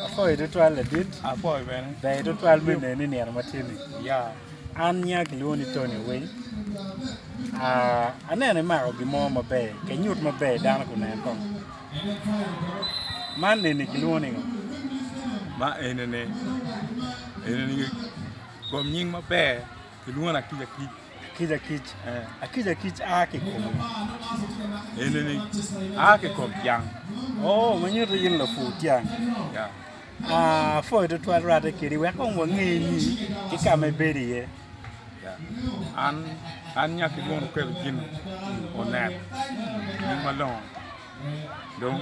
Apoyo tutwal ladit. Apoyo bene. Ber tutwal me neni nino ma tye ni. Ya. An nya kilwongo ni Tony Owiny. Ah, aneno imako gimo maber, kenyut maber dano kunen kong. Man neni kilwongo ni ngo? Ma enene, enene kom nying maber kilwongo atic atic. Akica akic, akica akic a ki kom enini, a ki kom tyang. Oh, ma nyuto in lapur tyang. Ya. Ah, pwoyo tutwal rwate kedi wek kong wangeye ni ki ka ma ibedo iye. Ya. An an nya ki mono kelo gin onet nying malongo. Dong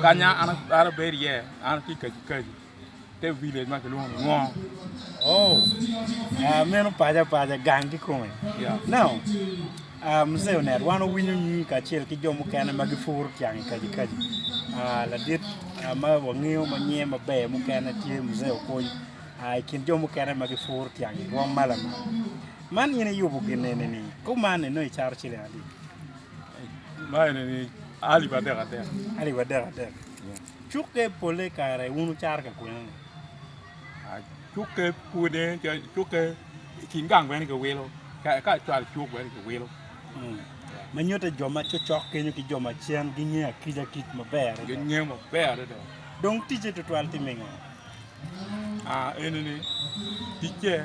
kanya an an abedo iye, an ki kaji kaji. te village ma kilwongo ni Ngong. Oh, ah, meno paco apaca gang ki kome. Yeah. Now, ah, Mzee Onet, wan owinyo nyingi kacel ki jo mukene ma gipuro tyang i kaji kaji. Ah, ladit ah, ma wangeyo ma nyinge maber mukene tye Mzee Okony. Ah, i kin jo mukene ma gipuro tyang i Ngong ma lamal. Man in iyubo gin eni ni, kuman eno icaro ciling adi? Ma eni ni alip adek adek. Alip adek adek. Cukke polle kare wun wucaro ka kwena-ni? Cukke pwode, cukke i kin gang bene kiwilo, ka cwal cuk bene kiwilo. Ma nyutte jo ma cocok kenyo ki jo macen gingeya kica kic maber adada. Gingeya maber adada. Dong ticce tutwal tye me ngo? Aa, eni ni, ticce.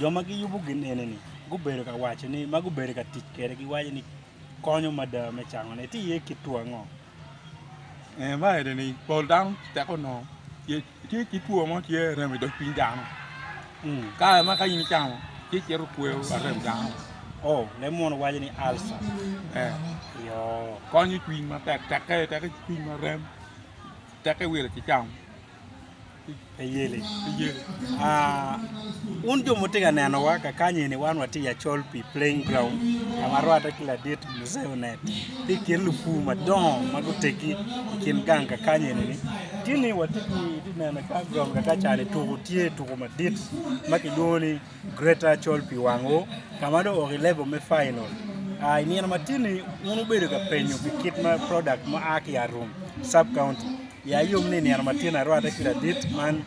Jo ma giyubo gin enini gubedo ka waco ni ma gubedo ka tic kwede giwaco ni konyo mada me cangone. Itye iye kit two ango? Eh, ma enini pol dano tek onongo tye tye ki two mo tye arem i dog cwiny dano. Mm. Kare ma ka in icamo tye cito kweyo arem dano. Oh, leb mono waco ni alsa. Eh, Yo. konyo cwiny matek tekke tekke cwiny ma rem tekke wire ki cam. Pi yeli, wun jo ma wutye ka nenowa kakanye-ni wan watye i Achol pi Playing Ground ka ma rwatte ki ladit Mzee Onet tye i kin lupur madongo ma guteggi i kin gang kakanye-ni. Tinni watye ki neno i Playing Ground kaka ca-ni tuku tye tuku madit ma kilwongo ni Greta col pi wangwu ka ma dong owok i level me final. Ah, i nino matini wun wubedo ka penyo pi kit ma product ma a ki Arum sub county. Ya yom ni i nino matini arwate ki ladit man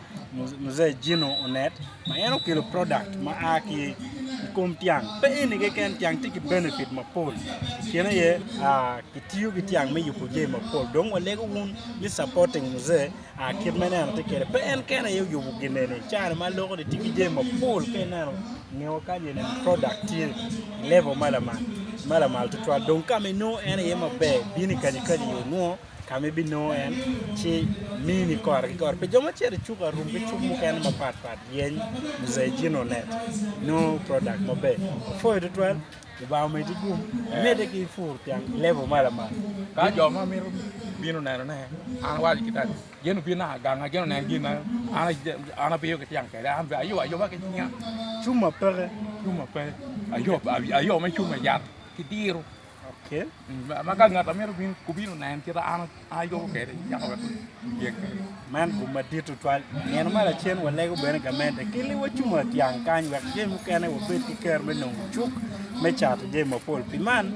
Mzee Gino Onet ma en okelo product ma a ki i kom tyang. Pe eni keken, tyang tye ki benefit mapol i kine aye ah, kitiyo ki tyang me yubo jami mapol. Dong walego wun ni supporting Mzee. Kit ma ineno tye kwede, pe en kene aye oyubo gineni. China ma loko ni tye ki jami mapol ka ineno ngewa kany eni product tye i level ma lamal ma lamal tutwal dong ka ma inongo en aye maber bino i kaji kaji yo nongo ka ma ibinongo en ci mini kore ki kore. Pi jo ma cito i cuk arum ki cuk mukene mapat pat yeny Mzee Gino net nongo product maber. Apwoyo tutwal. Lubanga omeddi gum, imedde ki ipur tyen level ma lamal. Ka jo ma mito bino neno ne, an awaco ki tani, gin obin naka gang na gin onen gin na an an abiyo ki tyang kede, an be ayo ayoba ki cinga. Cum ma peke. Cum ma peke. Ayo ayo me cum me yat ki diro. Okay. Ma ka ngat amito bin kubino nen kita an Man gum madit tutwal. Nino ma lacen walego bene gamente ki liwa cuma dyang kany wek jami mukene wabed ki kero me nongo cuk me cato jami mapol. Pi man,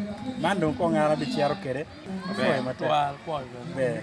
man dong kong an abiciro kwede. Apwoyo matek. Ber.